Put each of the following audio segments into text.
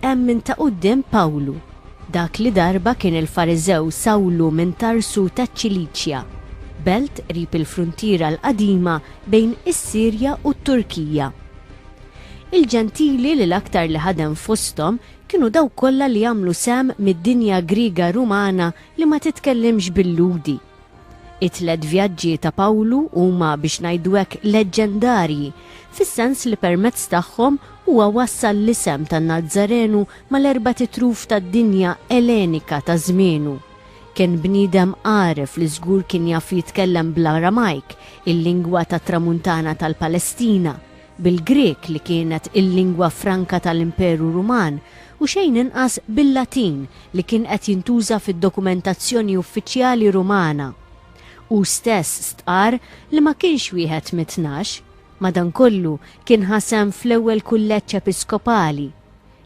Hemm minn ta' quddiem Pawlu, dak li darba kien il-Fariżew Sawlu minn Tarsu taċ-Ċiliċja, belt qrib il-fruntiera l-qadima bejn is-Sirja u t-Turkija. Il-Ġentili li l-aktar li ħadem fosthom kienu dawk kollha li għamlu sehem mid-dinja Griega Rumana li ma titkellimx bil-Lhudi. It-tliet vjaġġi ta' Pawlu huma biex ngħidu hekk leġġendarji, fis-sens li permezz tagħhom huwa wassal l-isem tan-Nazzarenu mal-erbat itruf tad-dinja Ellenika ta' żmienu. Kien bniedem għaref li żgur kien jaf jitkellem bl-Aramajk, il-lingwa tat-Tramuntana tal-Palestina, bil-Grieg li kienet il-lingwa franka tal-Imperu Ruman u xejn inqas bil-Latin li kien qed jintuża fid-dokumentazzjoni uffiċjali Rumana. Hu stess stqarr li ma kienx wieħed mit-Tnax, madankollu kien ħa sehem fl-ewwel kulleġġ episkopali.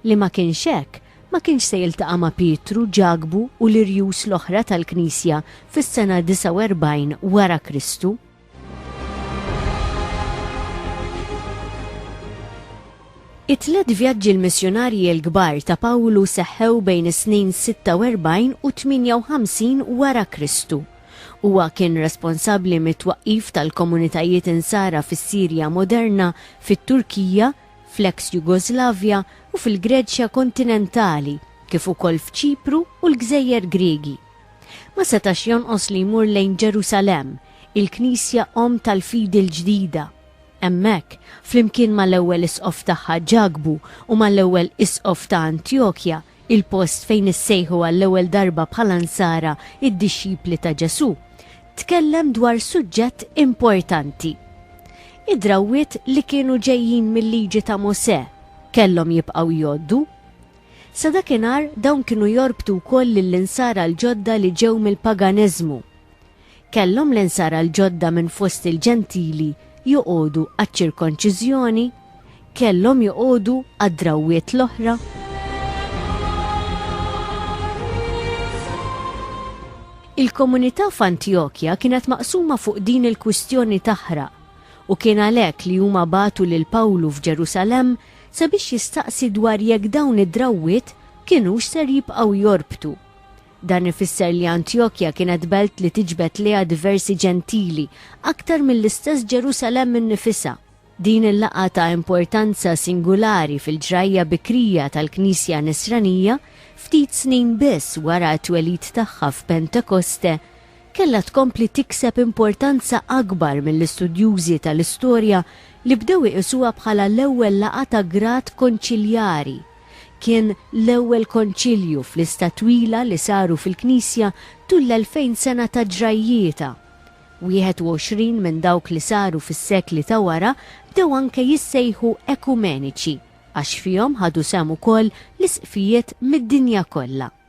Li ma kienx hekk, ma kienx se jiltaqa' ma' Pietru, Ġakbu u l-irjus l-oħra tal-Knisja fis-sena 49 wara Kristu. It-tliet vjaġġi l-missjunarji l-kbar ta' Pawlu seħħew bejn is-snin 46 u 58 wara Kristu. Huwa kien responsabbli mit-twaqqif tal-komunitajiet Insara fis-Sirja moderna, fit-Turkija, fl-eks Jugoslavja u fil-Greċja kontinentali, kif ukoll f'Ċipru u l-gżejjer Griegi. Ma setax jonqos li jmur lejn Ġerusalemm, il-Knisja omm tal-fidi l-ġdida. Hemmhekk, flimkien mal-ewwel isqof tagħha Ġakbu u mal-ewwel isqof ta' Antjokja, il-post fejn issejħu għall-ewwel darba bħala Nsara d-dixxipli ta' Ġesù, tkellem dwar suġġett importanti. Id-drawwiet li kienu ġejjin mil-Liġi ta' Mosè kellhom jibqgħu jgħoddu. Sa dakinhar, dawn kienu jorbtu wkoll lill-Insara l-ġodda li ġew mill-paganiżmu. Kellhom l-Insara l-ġodda minn fost il-Ġentili joqogħdu għaċ-ċirkonċiżjoni? Kellhom joqogħdu għad-drawwiet l-oħra? Il-komunità f'Antjokja kienet maqsuma fuq din il-kwistjoni taħraq, u kien għalhekk li huma bagħtu lil Pawlu f'Ġerusalemm sabiex jistaqsi dwar jekk dawn id-drawwiet kinux ser jibqgħu jorbtu. Dan ifisser li Antjokja kienet belt li tiġbed lejha diversi Ġentili aktar mill-istess Ġerusalemm innifisha. Din il-laqgħa ta' importanza singulari fil-ġrajja bikrija tal-Knisja Nisranija, ftit snin biss wara t-twelid tagħha f'Pentekoste, kellha tkompli tikseb importanza akbar mill-istudjużi tal-istorja li bdew iqisuha bħala l-ewwel laqgħa ta' grad konċiljari. Kien l-ewwel konċilju f'lista twila li saru fil-Knisja tul l-elfejn sena ta' ġrajjietha. Wieħed u għoxrin minn dawk li saru fis-sekli ta' wara bdew anke jissejħu ekumeniċi għax fihom ħadu sehem ukoll l-Isqfijiet mid-dinja kollha.